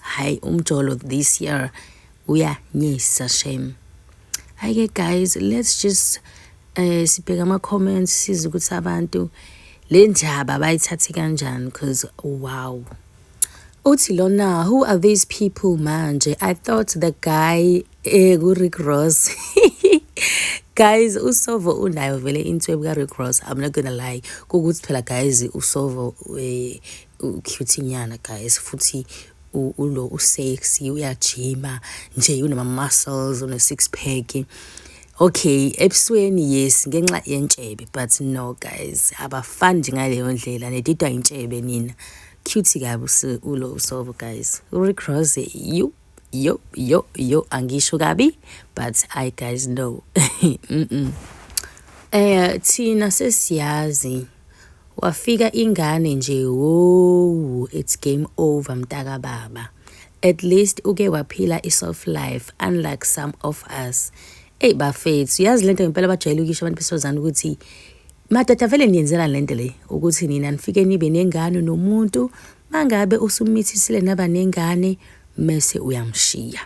Hayi umjolo this year uyanyisa shame. Hayi ke guys let's just eh sibheka ama comments size ukuthi abantu le ndaba bayithathe kanjani because wow. Uthi lona who are these people manje? I thought the guy eh ku Rick Ross. guys usovo unayo vele inswebu ka-rick ross i'm not gonna lie kukuthi phela guys usovo eh, ucute nyana guys futhi ulo usexy uyajima nje unama muscles une six pack okay ebusweni yes ngenxa yentshebe but no guys abafani nje ngaleyo ndlela nedidwa intshebe nina cute kabi ulo usobo guys urick rose you yo yo yo angisho kabi but i guys no mm -mm. eh thina sesiyazi wafika ingane nje wowu it's game over mtaka baba at least uke waphila i-soft life unlike some of us eyi bafethu yazi lento ngempela bajwayele ukisho abantu besifazane ukuthi madoda vele niyenzelani lento le ukuthi nina nifike nibe nengane nomuntu Mangabe usumithisile naba nengane mese uyamshiya.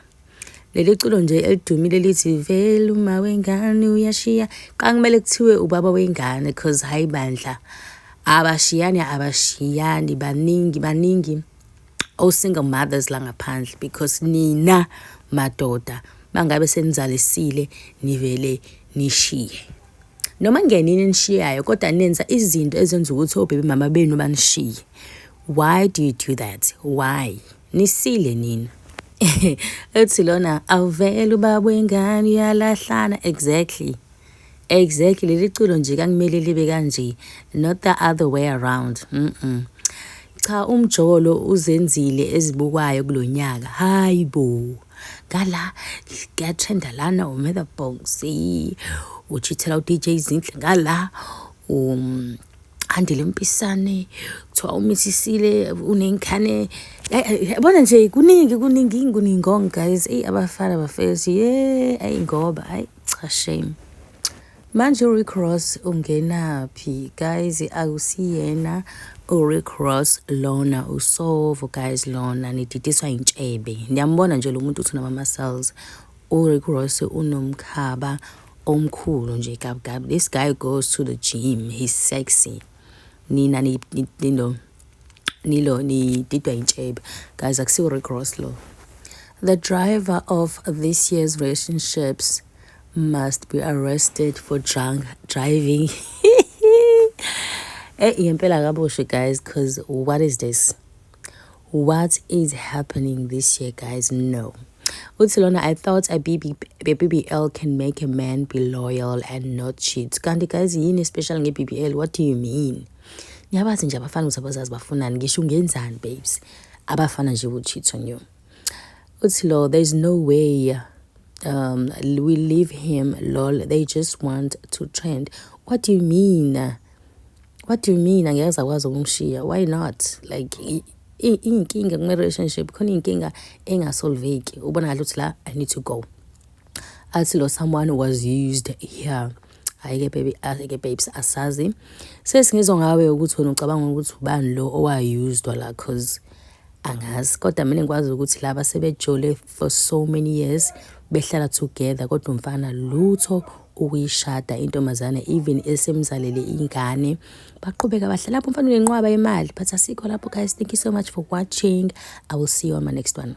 Leli culo nje elidumile lithi vele uma wengane uyashiya. Qankumele kuthiwe ubaba wengane cause hayi bandla. Abashiyani abashiyani baningi baningi o single mothers la ngaphandle because nina madoda mangabe senizalisile nivele nishiye. Noma ngenini enishiyayo kodwa nenza izinto ezenza ukuthi obebe mama benu banishiye. Why do you do that? Why? Nisile nina. Ethi lona awuvele ubaba wengane uyalahlana exactly. Exactly leli culo nje kakumele libe kanje not the other way around. Mm. -mm. Cha umjolo uzenzile ezibukwayo kulonyaka. Hayibo. ngala kuyatrenda lana umetha bonsi uchithela udj zinhle ngala um andile mpisane kuthiwa umisisile uney'nkhane yabona nje kuningi kuningi kuningi ngong guys eyi abafana bafethu ye ayi ngoba ayi cha shame Manje uRick Ross ungenaphi guys akusiyena uRick Ross lona usovo guys lona nididiswa intshebe niyambona nje lo muntu uthi unama cells uRick Ross unomkhaba omkhulu nje gabgab this guy goes to the gym he's sexy nina ni, ni, ni, no. nilo nididwa intshebe guys akusiwo-rick ross lo the driver of this year's relationships must be arrested for drunk driving eh yempela kaboshe guys cause what is this what is happening this year guys no uthi lona i thought a BB, a bbl can make a man be loyal and not cheat kanti guys yini special nge-bbl what do you mean ngiyabazi nje abafana ukuthi abazazi bafunani ngisho ungenzani babes abafana nje will cheat on you uthi lo there's no way um we leave him lol they just want to trend what do you mean what do you mean angeke sakwazi ukumshiya why not like iyinkinga kuma-relationship khona iyinkinga engasolveki ubona ngathi ukuthi la i need to go athi lo someone was used here hhayi-ke baby hhayi-ke babes asazi sesingizwa ngawe ukuthi wena ucabanga ukuthi ubani lo owayusdwa la cause angazi kodwa mina ngikwazi ukuthi laba sebejole for so many years behlala together kodwa umfana lutho ukuyishada intombazane even esemzalele ingane baqhubeka bahle lapho mfana unenqwaba imali but asikho lapho guys thank you so much for watching i will see you on my next one